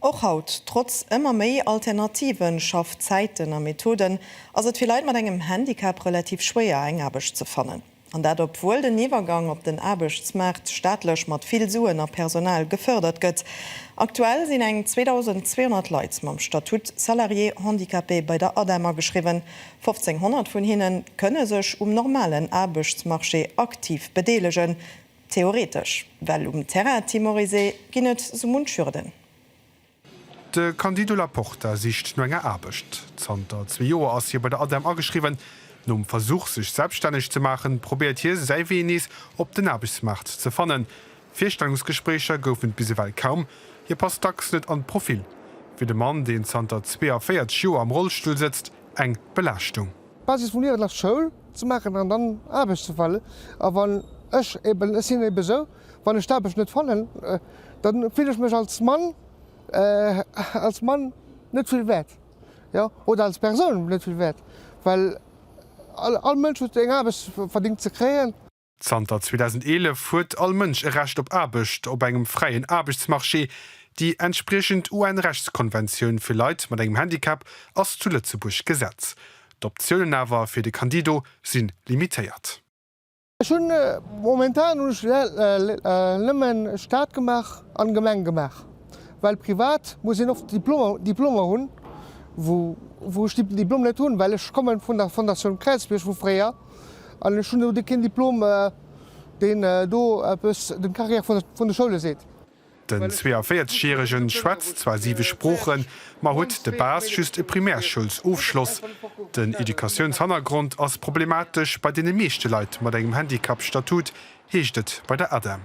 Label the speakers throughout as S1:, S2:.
S1: Och haut, trotz ëmmer méi alternative Schaffzäiten a Methoden, ass et fir Leit mat engem Handicap relativ schwéier, eng Aarbecht ze fannen. An dat obwuel den Iwwergang op den Aarbechtsmaart staatlech mat vill Suen a Personal gefërdert gëtt. Aktuell sinn eng 2.200 Leit mam Statut Salarié handicapé bei der ADEM ageschriwwen. 1.500 vun hinne kënne sech um normalen Aarbechtsmarché aktiv bedeelegen. Theoretesch, well um Terrain timorisé ginn et sou munch Hürden.
S2: De Candido Laporta sicht no enger Aarbecht. Zanter zwee Joer ass hie bei der ADEM ageschriwwen. Nom Versuch sech selbststänneg ze maachen, probéiert hie säi Wee nees op den Aarbechtsmaart ze fannen. Virstellungsgespréicher goufen et bis ewell kaum, hie passt dacks net an d'Profil. Fir de Mann, deen zanter 42 Joer am Rollstull sëtzt, eng Belaaschtung. D'Basis vum Liewen ass
S3: Schoul ze maachen an dann Aarbecht ze fannen. A wann ech eben, ech sinn ebe sou, wann ech d'Aarbecht net fannen, da fille ech mech als Mann, als Mann net vill wäert, jo, oder als Persoun net vill wäert, well all Mënsch huet eng Aarbecht verdéngt ze kréien. Zanter
S2: 2011 huet all Mënsch e Recht op Aarbecht op engem fräien Aarbechtsmarché. Déi entspriechend UN-Rechtskonventioun fir Leit mat engem Handicap ass zu Lëtzebuerg Gesetz. D'Optiounen awer fir de Candido si limitéiert. Ech hunn
S3: momentan hunn ech nëmmen Staat gemaach an Gemeng gemaach, well privat muss een oft Diplomer hunn, wou ech déi Diplom net hunn, well ech kommen vun der Fondatioun Kräizbierg vu fréier. An ech hunn elo keen Diplom, deen do eppes dem Carrière vun de Schoule seet. Den 42
S2: järege schwätzt zwar siwe Sproochen, ma huet de Bas just e Primärschoulsofschloss. Den Educatiounshannergrond ass problematesch bei deene meeschte Leit mat engem Handicapstatut, heescht et bei der ADEM.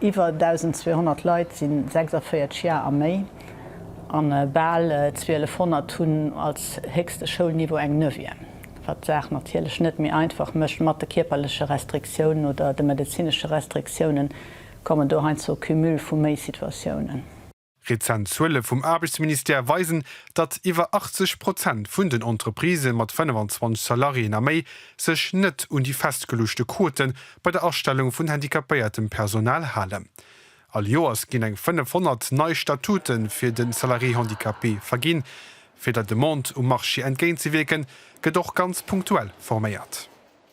S2: Iwwer 1.200
S4: Leit si 46 Jar a méi an bal 1200 hunn als héchste Schoulniveau eng Neuvième, wat d'Saach natierlech net méi einfach mécht. Mat de kierperleche Restriktiounen oder de medezinesche Restriktiounen kommen do heiansdo Cumule vu méi Situatiounen. Rezent
S2: Zuele vum Aarbechtsministère weisen, datt iwwer 80 Prozent vun den Entreprisë mat 25 Salariéen a méi sech net un déi festgeluechte Quote bei der Astellung vun handicapéiertem Personal halen. All Joers ginn eng 500 nei Statute fir de Salarié handicapé verginn. Fir der Demande um Marché entgéintzewierken, gëtt och ganz punktuell forméiert.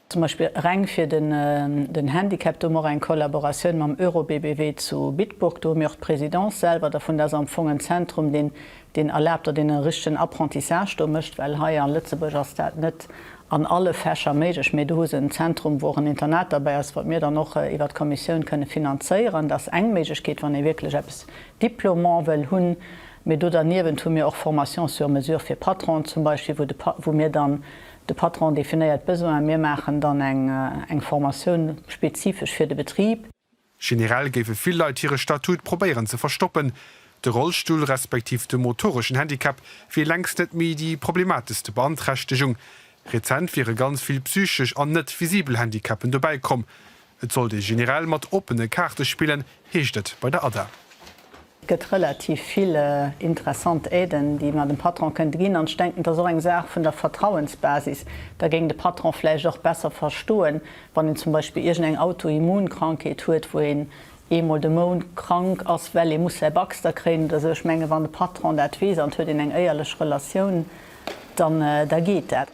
S2: Zum Beispill
S4: reng fir den Handicap, do hu mer och eng Kollaboratioun mam Eurobbb zu Bitburg. Do hu mir och d'Présidence selwer dervun. Dat ass am Fong en Zentrum, deen erlaabt, datt een e richtegen Apprentissage do mécht, well hei a Lëtzebuerg ass dat net an alle Fächer méiglech. Mee do hu se en Zentrum, wou och en Internat derbäi ass, wat mir dann och iwwer d'Kommissioun kënne finanzéieren. Dat ass eng Méiglechkeet, wann ee wierklech eppes Diplômant wëll hunn. Mee do derniewent hu mir och Formation sur mesure fir Patronen zum Beispill, wou mir dann De Patron definéiert d'Besoin a mir maachen dann eng Formatioun spezifesch fir de Betrib. Generell géife
S2: vill Leit hire Statut probéieren ze verstoppen. De Rollstull respektiv de motoreschen Handicap wier längst net méi déi problemateschste Beanträchtegung. Rezent wiere ganz vill psychesch an net visibel Handicapen dobäi komm. Et sollt ee generell mat oppene Kaarte spillen, heescht et bei der ADA. Et gëtt
S4: relativ vill interessant Aiden, déi mer dem Patron kënnte ginn. An ech denken, et ass och eng Saach vun der Vertrauensbasis. Da géing de Patron vläicht och besser verstoen, wann een zum Beispill iergendeng Autoimmunkrankheet huet, wou een eemol de Mount krank ass, well ee muss säi Baxter kréien oder esou. Ech menge wann de Patron dat weess an et huet een eng éierlech Relatioun, dann da geet dat.